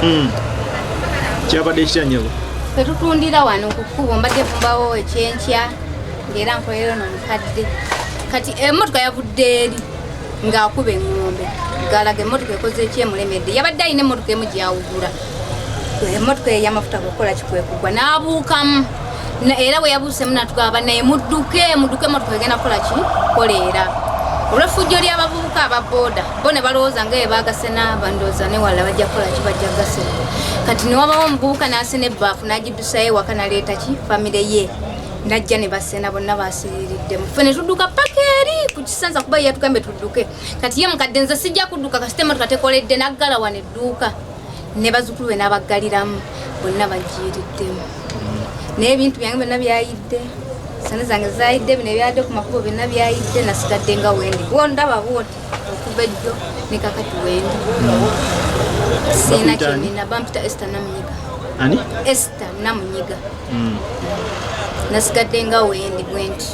Hmm. kyabadde kitya nyabo tetutundira wano kukubo mbadde kumbawo ekyenkya ngaera nkolera ono mukadde kati emotoka yavudde eri ng'akuba eŋŋombe galaga emotoka ekoze ekyemulemedde yabadde alina emotoka emu gyawugula emotoka eyo eyamafuta kukola kikwekugwa n'abuukamu era bwe yabuusemu natugamba naye mudduke mudduke emotoka egenda kukola ki koleera olwefujjo ly'abavubuka aba booda bo ne balowooza nga ye baagase n'abandooza newalala bajja kukola ki bajja gase kati newabawo omuvubuka n'asena ebbaafu n'agiddusayo ewaka naleeta ki famire ye najja ne basena bonna basiriridde mufe ne tudduka paka eri ku kisansa kuba yatugambe tudduke kati ye mukadde nze sijja kudduka kasita emotoka tekoledde naggala wano edduuka ne bazukulu be n'abaggaliramu bonna bagiiriddemu naye ebintu byange byonna byayidde sani zange zayidde bino ebyadde ku makubo byonna byayidde nasigadde nga wendi wondaba bwoti okuva ejjo ne kakati wendi siina kyenina bampita ester namunyiga ester namunyiga mm. nasigadde nga wendi bwenti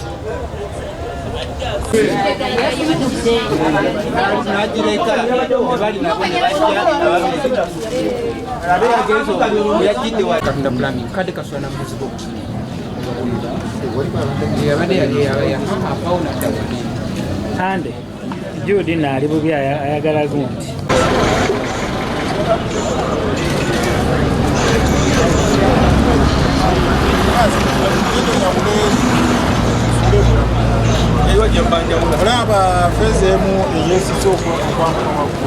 kade kaswana muzigo yabade yali yabayaha apawo nadda kugenda Jude naali bubi ayagala gundi olaba feza emu eyesisa okwamukamaku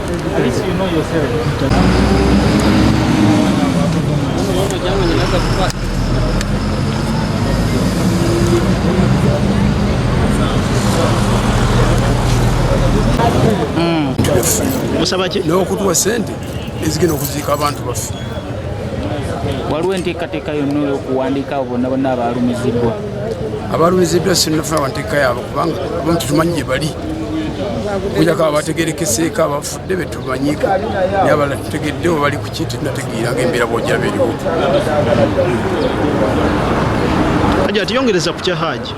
musaba ki naye okutuwa sente ezigenda okuziika abantu baffe waliwo enteekateeka yonna olwokuwandiika abo bonna bonna abaalumiziddwa abaalumiziddwa sinafuna wanteeka yaabo kubanga abamu tetumanyi gye bali okujako abategerekeseeko abafudde betumanyiko naye abala tutegedde webali kuki tunategeeranga embeera bwojja beriwo haji atiyongereza ku kya haji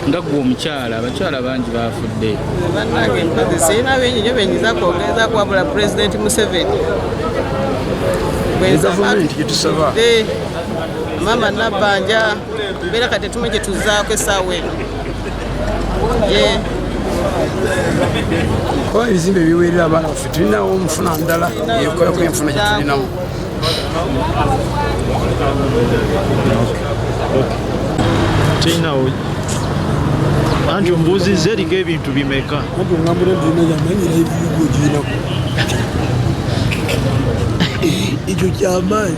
nga gwe omukyala abakyala bangi bafudde banange mpozi sirina bingi nyo benyiza kwogeza kuwabula pulezidenti museveni gavumenti gyetusaba eh, mama nabanja Bera kati tume gye tuzaako essaawa eno kuba ebizimbe biweerera abaana baffe tulinawo omufuna ndala ekolako enfuna gye tulinawo tulinawo anti ombuuzizza eringa ebintu bimeka ekyo kyamaanyi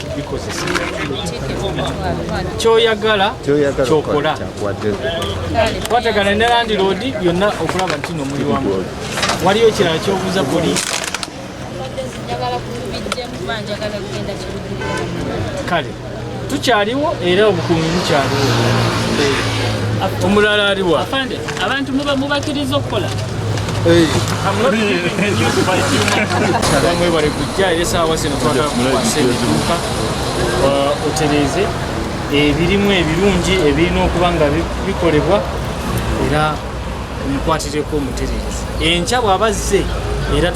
kyoyagala kyokola twatagana ne landiroodi yonna okulaba nti no muli wamu waliyo ekirala kyobuuza poliisi kale tukyaliwo era obukuumi bukyaliwo omulala aliwa abantu muba mubakiriza okukola mwebale kujja era esaawa zino twagala kukwasa ebiduuka uh, otereeze ebirimu ebirungi ebirina okuba nga bikolebwa era omukwatireko omutereeze enkya bw'abazze era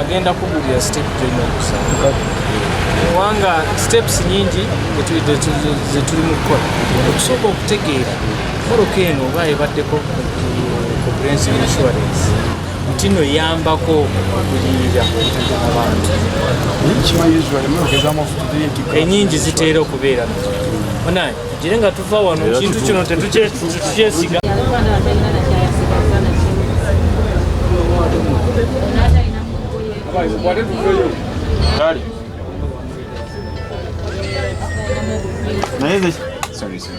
agenda kugulira step gyonna okusa kubanga steps nyingi zetuli mu kukola okusooka okutegeera moroka eno oba ebaddeko comprehensive insurance nti no eyambako okugulirira abantu enyingi ziteera okubeera nazo tugire nga tuva wano ekintu kino tetukyesiga kale naye sorry sorry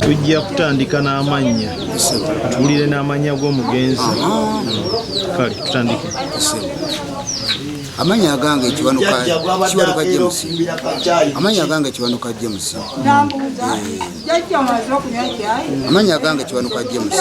tujja kutandika n'amannya tuwulire n'amannya g'omugenzi kale tutandike amanya agange kiwanuka kiwanuka James amanya agange kiwanuka James amanya agange kiwanuka James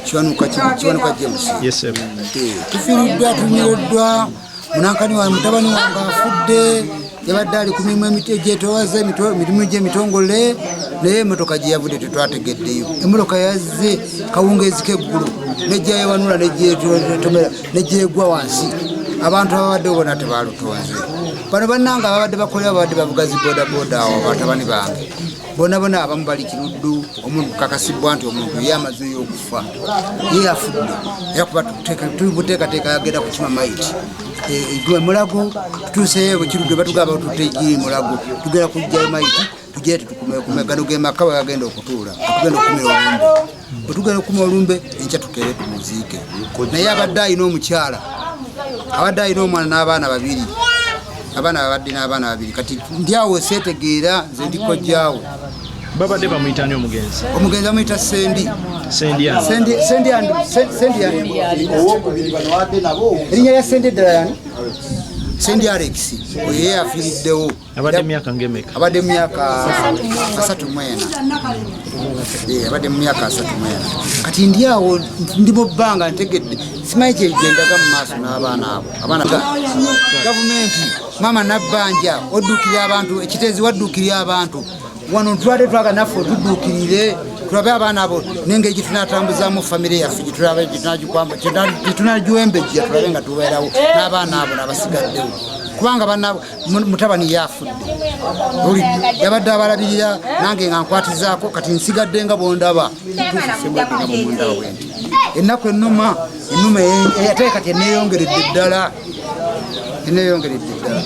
kiwanuka kiwanuka james yes sir eh, tufiridwa tumirodwa munankani wa mutabani wange afudde yabadde ali ku mirimu emiti egyetowaza emirimu gyemitongole naye emotoka gyeyavudde tetwategeddeyo emotoka yazze kawungeezi keggulu nejjayewanula nejjetomera nejjegwa wansi abantu ababadde bona tebalutonze bano bannanga ababadde bakolera babadde bavuga zi bodaboda awo batabani bange bonabona abamu bali kiruddu omuntu kukakasibwa nti omuntu ye amaze eyokufa ye afudde era kuba tuli buteekateeka yagenda kukima maiti e, e, gwe mulago tutuuseyo bwekiruddu batugamba tutte giri mulago tugenda kujjayo maiti tugere tetukumekume gano gemaka wagagenda okutuula tugenda okumira obumbe bwe tugenda okukuma olumbe enkya tukeere tumuziike naye abadde alina omukyala abadde alina omwana n'abaana babiri abaana babadde n'abaana babiri kati ndyawo seetegeera nze ndikojjaawo babadde bamuyitani omugenzi omugenzi amuyita sendi erinnya lya sendi eddala yani sendi alex oyo yeyafiiriddewo abadde myaka ngemeka abadde myaka asatu mwena eh, abadde mumyaka asatu mwena kati ndi awo ndi mu bbanga ntegedde simanyi kyegendaga mu maaso n'abaana abo abaana gavumenti maama nabbanja oddukirira abantu ekiteezi waddukirira abantu wano ntwade twaga naffe otuddukirire tulabe abaana abo nengeri gyetunatambuzamu famire yaffe gyetunagiwembejja tulabe nga tubeerawo n'abaana abo nabasigaddewo kubanga banabo mutabani yafudde oli yabadde abalabirira nange nga nkwatizaako kati nsigadde nga bwondaba ennaku enuma enuma ate kati eneyongeredde ddala eneyongeredde ddala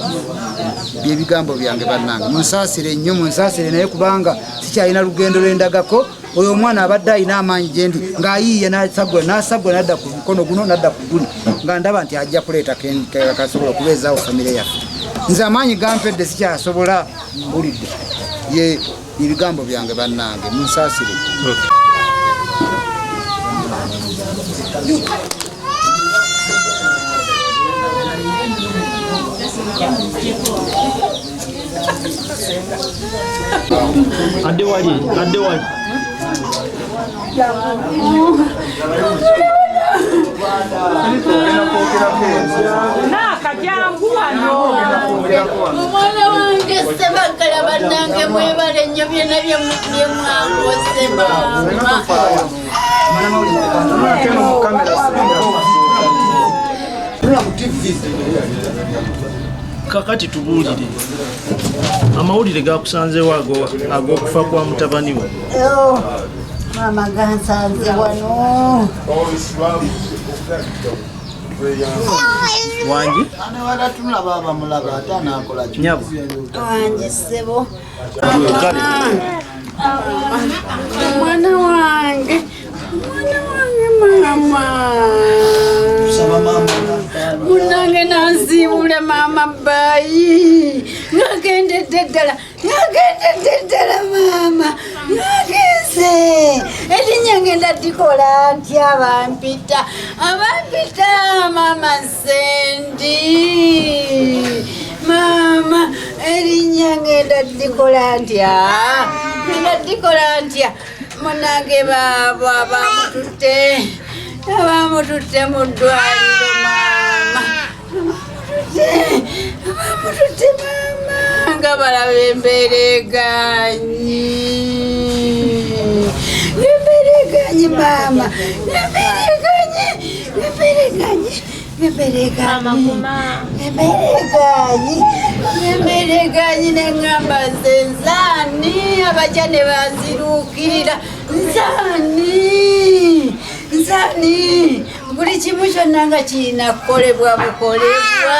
byebigambo byange bannange munsasire nnyo munsasire naye kubanga sikyalina lugendo lwendagako oyo omwana abadde alina amaanyi gyendi ng'ayiiya nasagula nasagula nadda ku mukono guno nadda ku guno nga ndaba nti ajja kuleeta kasobola okubeezaawo famire yaffe nze amaanyi gampedde sikyasobola mbulidde ye ebigambo byange bannange munsaasire adde wali adde wali omwana wange sebagala banange mwebale nyo byona byemwakoze mama kakati tubuulire amawulire gakusanzeewo ag'okufa kwa mutabani we maama gansanze wano wangi nyabo wangi sebo Mwana wange, mwana wange mama. Saba mama. Munange nansiibule mama bayi. Nagendedde ddala, nagendedde ddala mama. Nagenze. Erinnya ngenda dikola ntya bampita. Abampita mama. Sendi maama erinnya ngenda dikola ntya ngenda dikola ntya munange baabo abamututte abamututte mu ddwaliro maama abamututte maama nga balaba embeera eganyi embeera eganyi maama embeera Bebereganyi, bebereganyi, bebereganyi, bebereganyi nengamba nze nzani abaja ne bazirukirira nzani nzani buli kimu kyonna nga kirina kukolebwa bukolebwa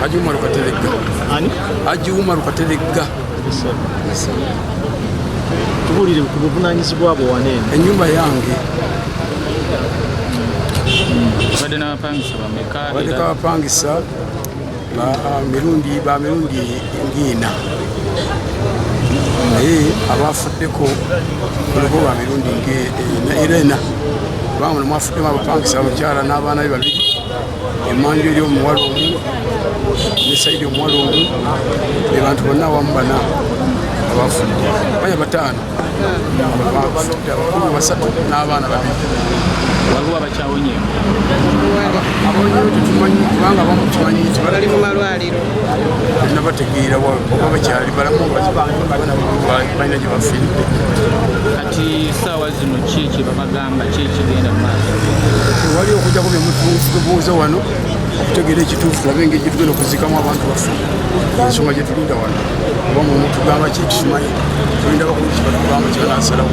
Haji Umaru Kateregga. Ani? Haji Umaru Kateregga. Tubulire ku buvunaanyizibwa bwo wano eno. Ennyumba yange. Badde n'abapangisa bameka? Badde n'abapangisa ba ah, mirundi ba mirundi ng'ina naye abaafuddeko kuliko ba mirundi ng'ena era ena kubanga muno mwafuddemu abapangisa abakyala n'abaana be babiri emanju eri omuwala omu ne saidi omuwala omu be bantu bonna awamu bana abafudde baya bataano abafudde abakulu basatu n'abaana babiri waliwo abakyawonyemu abonyewo tetumanyi kubanga bamukimanyi nti bali mu malwaliro nabategeera oba bakyali balamu balina gye bafiiridde kati saawa zino ki kyebabagamba ki ekigenda mu maaso tewali okujjako byemutubuuza wano okutegeera ekituufu tulabe engeri gyetugenda okuzikamu abantu baffe ensonga gyetulinda wano oba mumutugamba ki tukimanyi tulinda bakulu kibatugamba kibanasalawo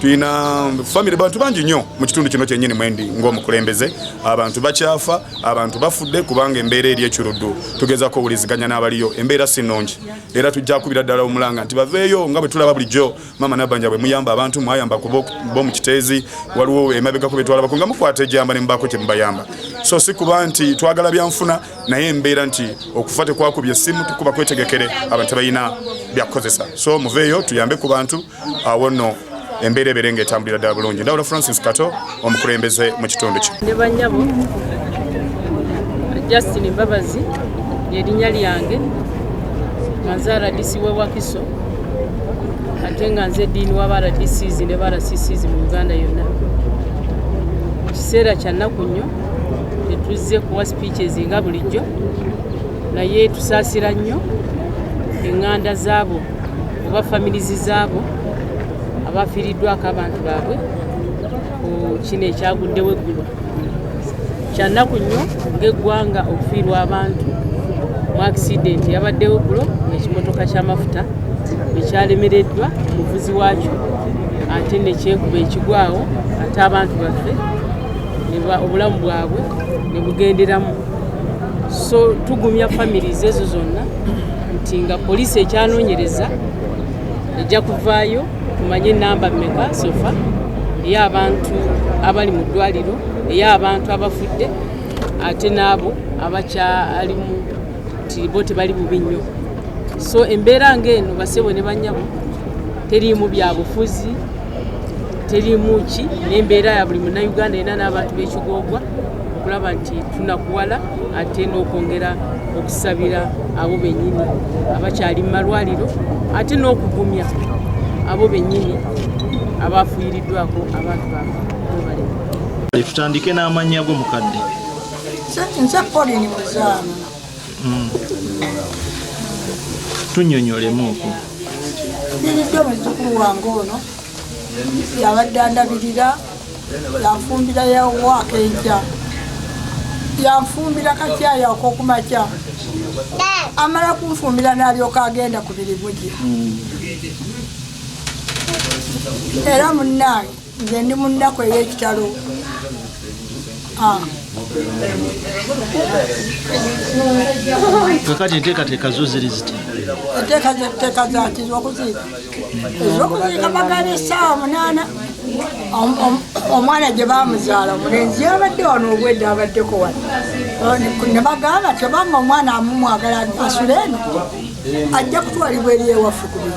tulina famire bantu bangi nnyo mu kitundu kino kyennyini mwendi ng'omukulembeze abantu bakyafa abantu bafudde kubanga embeera eri ekiruddu tugezako owuliziganya n'abaliyo embeera si nnungi era tujja kubira ddala omulanga nti baveeyo nga bwe tulaba bulijjo maama nabanja bwe muyamba abantu mwayamba bo mu kiteezi waliwo emabegako bye twalabako nga mukwata ejamba ne mubaako kye mubayamba so si kuba nti twagala byanfuna naye embeera nti okufa tekwakubye essimu tukuba kwetegekere abantu balina byakukozesa so muveeyo tuyambe ku bantu awo nno embeera ebeere nga etambulira ddala bulungi ndawula francis kato omukulembeze mu kitundu kyo ne banyabo justin mbabazi lyerinnya lyange nga nze rdc w'e wakiso ate nga nze diini waba rdcs ne ba rccs mu uganda yonna kiseera kyannaku nnyo tetuzze kuwa speeches nga bulijjo naye tusaasira nnyo eŋŋanda zaabo oba familizi zaabo abafiiriddwako abantu baabwe ku kino ekyaguddewo eggulo kyannaku nnyo ng'eggwanga okufiirwa abantu mu akisidenti yabaddewo eggulo ng'ekimotoka ky'amafuta ekyalemereddwa omuvuzi waakyo ate nekyekuba ekigwawo ate abantu baffe obulamu bwabwe nebugenderamu so tugumya famiries ezo zonna nti nga poliisi ekyanonyereza ejja kuvaayo tumanye namba meka sofa ey'abantu abali mu ddwaliro ey'abantu abafudde ate n'abo abakyalimu nti bo tebali bubi nnyo so embeera ng'eno basebo ne banyabo teriimu byabufuzi terimu ki n'embeera ya buli munnayuganda era n'abantu b'ekigoogwa okulaba nti tunakuwala ate n'okwongera okusabira abo bennyini abakyali mu malwaliro ate n'okugumya abo bennyini abaafuuyiriddwako abantu babo tutandike n'amannya go mukadde nze polini muzaana Mm. tunyonyolemuuku biridde muzukulu wange ono yabadde andabirira yanfumbira yawaaka enkya yanfumbira kakyayi akokumakya amala kunfumbira nalyoka agenda ku birimu gye era munnaye nze ndi mu nnaku ey'ekitalo ah. kakati enteekateeka zo ziri ziti enteekateeka zati zokuziika ezokuziika bagala essaawa munaana omwana gye bamuzaala omulenzi yabadde wano obwedde abaddeko wano ne bagamba tebanga omwana amumwagala asule eno ajja kutwalibwa eri ewaffe ku